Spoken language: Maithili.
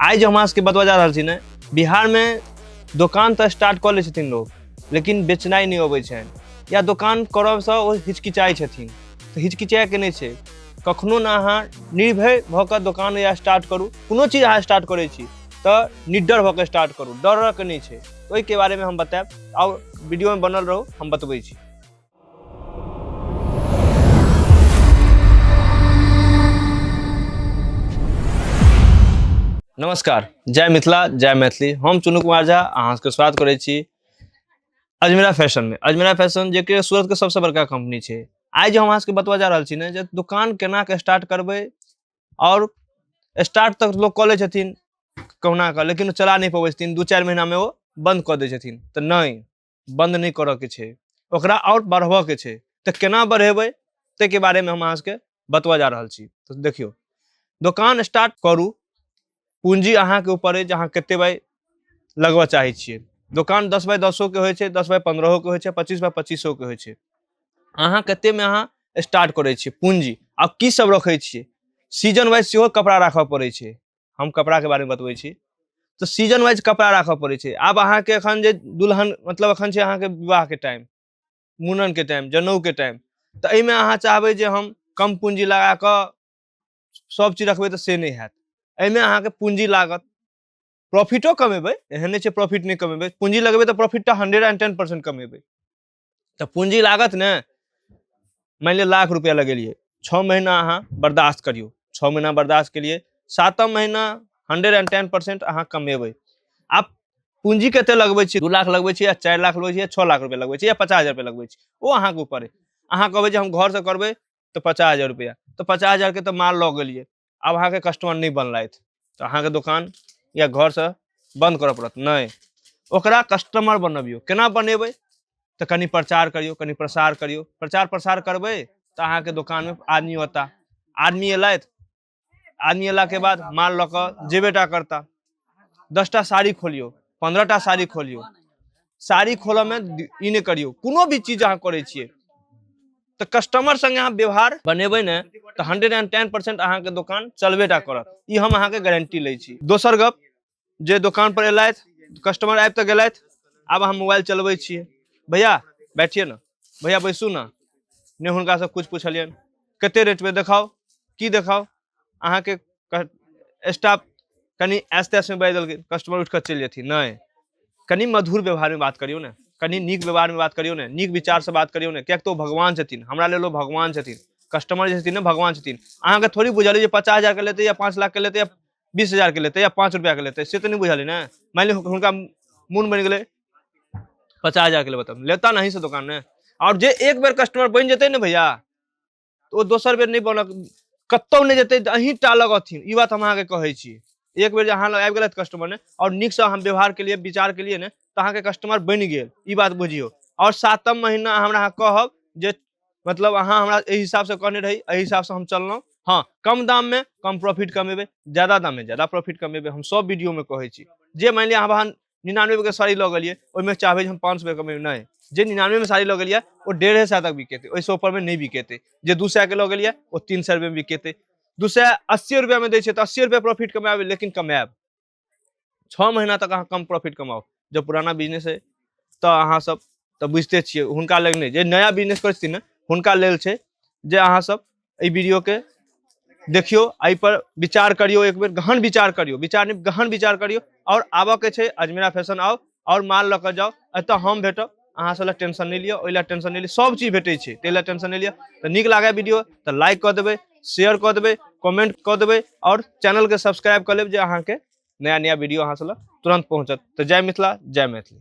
आइ जे हमरा सबके बतबा जा रहल छी ने बिहारमे दोकान तऽ स्टार्ट कऽ लै छथिन लोक लेकिन बेचनाइ नहि अबै छनि या दोकान करबसँ ओ हिचकिचाइ छथिन तऽ हिचकिचाइके नहि छै कखनो ने अहाँ निर्भय भऽ कऽ दोकान या स्टार्ट करू कोनो चीज अहाँ स्टार्ट करै छी तऽ निडर भऽ कऽ स्टार्ट करू डरके नहि छै ओहिके बारेमे हम बतायब आओर वीडियोमे बनल रहू हम बतबै छी नमस्कार जय मिथिला जय मैथिली हम चुनू कुमार झा अहाँके स्वागत करै छी अजमेरा फैशनमे अजमेरा फैशन जे कि सूरतके सबसँ बड़का कम्पनी छै आइ जे हम अहाँके बतबऽ जा रहल छी ने जे दोकान केनाके स्टार्ट करबै आओर स्टार्ट तक लोक कऽ लै छथिन कहुना कऽ लेकिन ओ चला नहि पबै छथिन दू चारि महीनामे ओ बन्द कऽ दै छथिन तऽ नहि बन्द नहि करऽके छै ओकरा आओर बढ़बऽके छै तऽ केना बढ़ेबै ताहिके बारेमे हम अहाँ सबके बतबऽ जा रहल छी तऽ देखियौ दोकान स्टार्ट करू पूंजी अहाँके ऊपर अछि जे अहाँ कते बाय लगबऽ चाहै छियै दोकान दस बाय दसोके होइ छै दस बाय पन्द्रहोके होइ छै पच्चीस बाय पच्चीसोके होइ छै अहाँ कतेमे अहाँ स्टार्ट करै छियै पूंजी आ की सब रखै छियै सीजन वाइज सेहो कपड़ा राखऽ पड़ै छै हम कपड़ाके बारेमे बतबै छी तऽ सीजन वाइज कपड़ा राखऽ पड़ै छै आब अहाँके एखन जे दुल्हन मतलब एखन छै अहाँके विवाहके टाइम मूड़नके टाइम जनउके टाइम तऽ एहिमे अहाँ चाहबै जे हम कम पूंजी लगा कऽ सब चीज रखबै तऽ से नहि हैत एहिमे अहाँके पूंजी लागत प्रॉफिटो कमेबै एहन नहि छै प्रॉफिट नहि कमेबै पूंजी लगेबै तऽ प्रॉफिट तऽ हंड्रेड एंड टेन परसेंट कमेबै तऽ पूंजी लागत ने मानि लिअ लाख रुपया लगेलियै छओ महीना अहाँ बर्दाश्त करियौ छओ महीना बर्दाश्त केलियै सातम महीना हंड्रेड एंड टेन परसेंट अहाँ कमेबै आब पूंजी कते लगबै छी दू लाख लगबै छी या चारि लाख लगबै छी या छओ लाख रुपया लगबै छी या पचास हजार रुपया लगबै छी ओ अहाँके ऊपर अइ अहाँ कहबै जे हम घरसँ करबै तऽ पचास हजार रुपैआ तऽ पचास हजारके तऽ माल लऽ गेलिए आब अहाँके कस्टमर नहि बनलथि तऽ अहाँके दोकान या घरसँ बन्द करऽ पड़त नहि ओकरा कस्टमर बनबियौ केना बनेबै तऽ कनि प्रचार करियौ कनि प्रसार करियौ प्रचार प्रसार करबै तऽ अहाँके दोकानमे आदमी औता आदमी अयलथि आदमी अयला के बाद माल लऽ कऽ जेबेटा करता दसटा साड़ी खोलियौ पंद्रहटा साड़ी खोलियौ साड़ी खोलऽ में दि- ई नहि करियौ कोनो भी चीज अहाँ करै छियै तऽ कस्टमर संगे अहाँ व्यवहार बनेबै ने तऽ हंड्रेड एंड टेन परसेंट अहाँके दोकान चलबेटा करत ई हम अहाँके गारंटी लै छी दोसर गप जे दुकान पर एलथि कस्टमर आबि तऽ गेलथि आब हम मोबाइल चलबै छियै भैया बैठिए ना भैया बैसू ना ने हुनका से कुछ पूछलियन कते रेट में देखाओ की देखाओ अहाँ के स्टाफ कनी ऐस तैस में बाजि देलखिन कस्टमर उठि कऽ चलि जेथिन नहि कनी मधुर व्यवहार में बात करियौ ने कनी नीक व्यवहार में बात करियौ ने नीक विचार से बात करियौ ने किएक तऽ ओ भगवान छथिन हमरा लेल ओ भगवान छथिन कस्टमर जे छथिन ने भगवान छथिन अहाँके थोड़ी बुझल अइ जे पचास हजारके लेतै या पाँच लाखके लेतै या बीस हजार के लेते या पाँच रुपया के लेते से तो नहीं बुझल ना मान ली उनका मून बन गए पचास हजार के लिए बताओ लेता नहीं से दुकान में और जे एक बार कस्टमर बन जते ना भैया तो वो दोसर बेर नहीं बनक कतौ नहीं जते अहीं टा लगथिन ई बात हम अहाँके कहै छी एक बेर अहाँ लग आबि गेलथि कस्टमर ने और नीक से हम व्यवहार के लिए विचार के लिए ने तो अहाँके कस्टमर बन गेल ई बात बुझियो और सातम महीना हमरा अहाँ कहब जे मतलब अहाँ हमरा एहि हिसाबसँ कहने रही एहि हिसाबसँ हम चललहुँ हँ कम दाममे कम प्रॉफिट कमेबै ज्यादा दाममे ज्यादा प्रॉफिट कमेबै हम सभ वीडियोमे कहै छी जे मानि लिअ अहाँ निनानबेके साड़ी लऽ गेलियै ओहिमे चाहबै जे हम पाँच सए कमेबै नहि जे निनानबेमे साड़ी लऽ गेलियै ओ डेढ़े सए तक बिकेतै ओहिसँ ऊपरमे नहि बिकेतै जे दू सएके लऽ गेलियै ओ तीन सए रुपैआमे बिकेतै दू सए अस्सी रुपैआमे दै छै तऽ अस्सी रुपैआ प्रॉफिट कमाएब लेकिन कमाएब छः महीना तक अहाँ कम प्रॉफिट कमाओ जब पुराना बिजनेस है तो अहाँ सब तो बुझते छे हुनका लग नहीं जे नया बिजनेस कर छथिन हुनका लेल छे जे अहाँ सब ए वीडियो के देखियो आई पर विचार करियो एक बेर गहन विचार करियो विचार नहीं गहन विचार करियो और आबऽ के छे अजमेरा फैशन आओ आओर माल लऽ कऽ जाउ एतऽ हम भेटब अहाँ सब लए टेंशन नहि लिअ ओहि लए टेंशन नहि लिअ सब चीज भेटै छै ताहि लए टेंशन नहि लिअ तऽ नीक लागै वीडियो तऽ लाइक कऽ देबै शेयर कऽ देबै कमेंट कऽ देबै आओर चैनलके सब्सक्राइब कऽ लेब जे अहाँके नया नया वीडियो अहाँ सब लए तुरंत पहुँचत तऽ जय मिथिला जय मैथिली